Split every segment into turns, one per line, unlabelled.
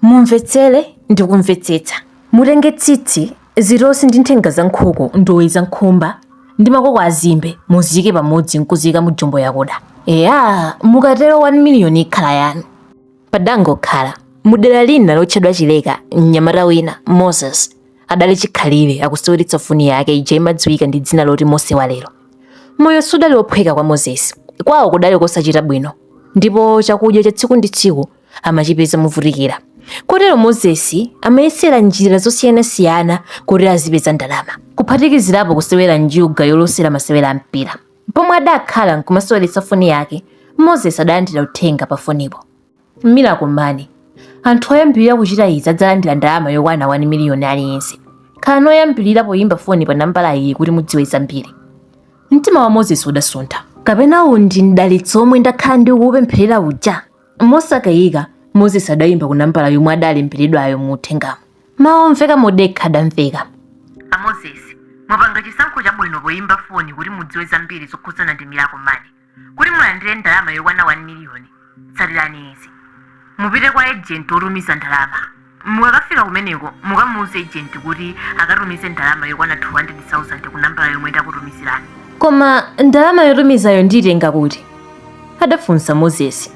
Mumvetsere ndi kumvetsetsa. Mutenge tsitsi, zitosi ndi nthenga za nkhuku, ndowe za nkhumba ndi makoko a zimbe muziike pamodzi n'kuziika mu jumbo yakuda. Eya, mukatero 1 miliyoni ikhala yanu. Padangokhala, mu dera lina lotchedwa Chileka, mnyamata wina, Moses, adali chikhalire akuseweretsa foni yake ija imadziwika ndi dzina loti Mose wa lero. Moyo sudali wophweka kwa Moses. Kwawo kudali kosachita bwino ndipo chakudya cha tsiku ndi tsiku amachipeza movutikira. Kotero Mozesi amayesera njira zosiyanasiyana kuti azipeza ndalama, kuphatikizirapo kusewera njuga yolosera masewera a mpira. Pomwe adakhala nkumaseweretsa foni yake, Mozesi adalandira uthenga pa fonipo. Miracle Money, anthu oyambirira kuchita izi adzalandira ndalama yokwana 1 miliyoni aliyense. Khalani oyambirira poyimba foni pa nambala iyi kuti mudziwe zambiri. Mtima wa Mozesi udasuntha. Kapena uwu ndi mdalitso omwe ndakhala ndikuwupempherera uja? Mosakayika, Moses adaimba ku nambala yomwe adalemberedwayo mu uthengamo. Mawu omveka modekha adamveka. A Moses,
mwapanga chisankho chabwino poimba foni kuti mudziwe zambiri zokhudzana ndi Miracle Money. Kuti mulandire ndalama yokwana 1 miliyoni, tsatirani izi. Mupite kwa ejenti wotumiza ndalama. Mukakafika kumeneko, mukamuuze ejenti kuti akatumize ndalama yokwana 200,000 ku nambala yomwe ndakutumizirani. Koma
ndalama yotumizayo ndiitenga kuti? adafunsa Moses.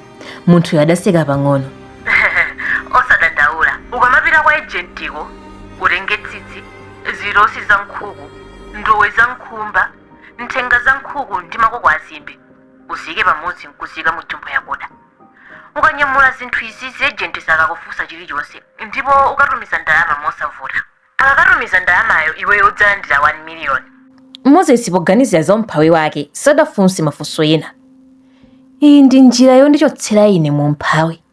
Munthuyo adaseka pang'ono.
Osadandaula, ukamapita kwa ejentiko utenge tsitsi, zitosi za nkhuku, ndowe za nkhumba, nthenga za nkhuku ndi makoko azimbe, uziike pamodzi n'kuziika mu jumbo yakuda. ukanyamula zinthu izizi ejenti sakakufunsa chilichonse ndipo ukatumiza ndalama mosavuta akakatumiza ndalamayo iweyo udzalandira 1 miliyoni moses
poganizira za umphawi wake sadafunse mafunso ena iyi ndi njira yondichotsera ine mu umphawi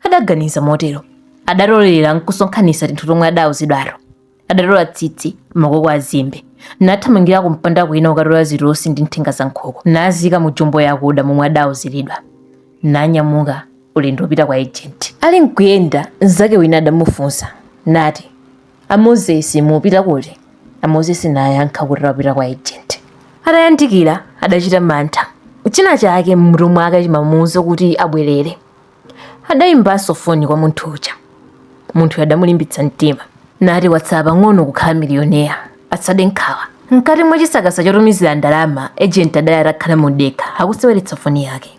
adaganiza motero adatolera nkusonkhanitsa tinthu tomwe adauzidwato adatola tsitsi makoko a zimbe nathamangira kumpanda kwina kukatola zitosi ndi nthenga za nkhuku naziika mu jumbo yakuda momwe adauziridwa nanyamuka ulendo wopita kwa ejenti ali nkuyenda mzake wina adamufunsa nati a mozesi mupita kuti a mozesi nayankha kuti akupita kwa ejenti atayandikira adachita mantha china chake mmutu mwake chimamuuza kuti abwerere Adaimbanso foni kwa munthu uja. Munthuyo adamulimbitsa mtima nati watsala pang'ono kukhala miliyonea, asade nkhawa. Mkati mwa chisakasa chotumizira ndalama, ejenti adali atakhala modekha akuseweretsa foni yake.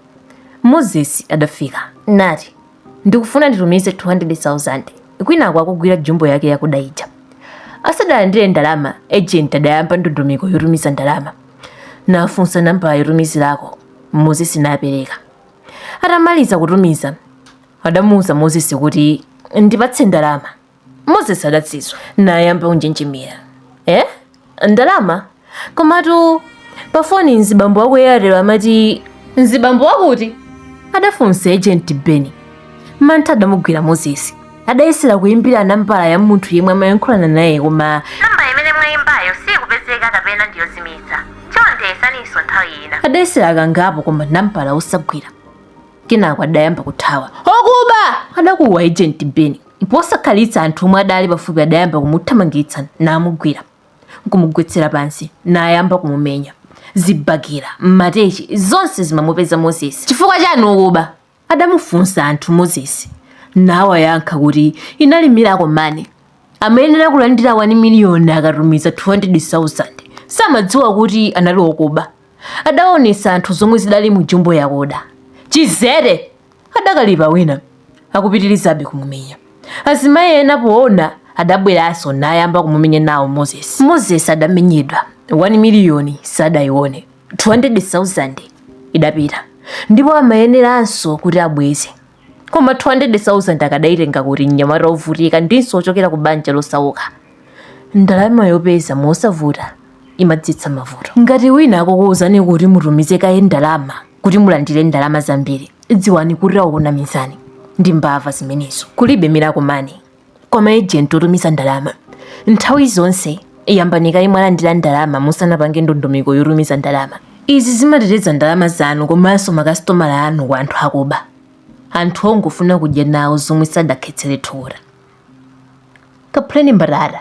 Moses adafika nati, Ndikufuna nditumize 200,000. Kwinaku akugwira jumbo yake yakuda ija. Asadalandire ndalama, ejenti adayamba ndondomeko yotumiza ndalama. Nafunsa nambala yotumizirako, Moses napereka. atamaliza kutumiza adamuuza mozesi kuti ndipatse ndalama mozesi adasizwa nayamba kunjenjemera eh? ndalama komatu pafoni mzibambo wa ku Airtel amati mzibambo wa kuti adafunsa ejenti beni mantha adamugwira mozesi adayesera kuyimbira nambala ya munthu yemwe amayankhulana naye koma nambala imene
mwayimbayo siyikupezeka kapena ndiyozimitsa chonde yesaninso nthawi ina adayesera kangapo
koma nambala osagwira kenako adayamba kuthawa okuba adakuwa ejenti beni posakhalitsa anthu omwe adali pafupi adayamba kumuthamangitsa namugwira nkumugwetsera pansi nayamba kumumenya zibakera matheche zonse zimamupeza moses chifukwa chiyani okuba Adamufunsa anthu Moses nawayankha kuti inali miracle money amayenera kulandira 1 million akatumiza 200,000 samadziwa kuti anali okuba adaonetsa anthu zomwe zidali mu jumbo yakoda chidzete adakalipa wina akupitirizabe kumumenya azimayi ena poona adabweranso nayamba kumumenya nawo Moses Moses adamenyedwa 1 million sadaione 200,000 idapita ndipo amayeneranso kuti abweze koma 200,000 akadaitenga kuti mnyamata wovutika ndinso wochokera ku banja losauka ndalama yopeza mosavuta imadzetsa mavuto ngati wina akukuwuzani kuti mutumize kaye ndalama kuti mulandire ndalama zambiri dziwani kuti akukunamizani ndi mbava zimenezo kulibe miracle money kwa maejenti otumiza ndalama nthawi zonse yambani kaye mwalandira ndalama musanapange ndondomeko yotumiza ndalama izi zimateteza ndalama zanu komanso makasitomala anu kwa anthu akuba anthu ongofuna kudya nawo zomwe sadakhetsere thukuta kaphuleni mbatata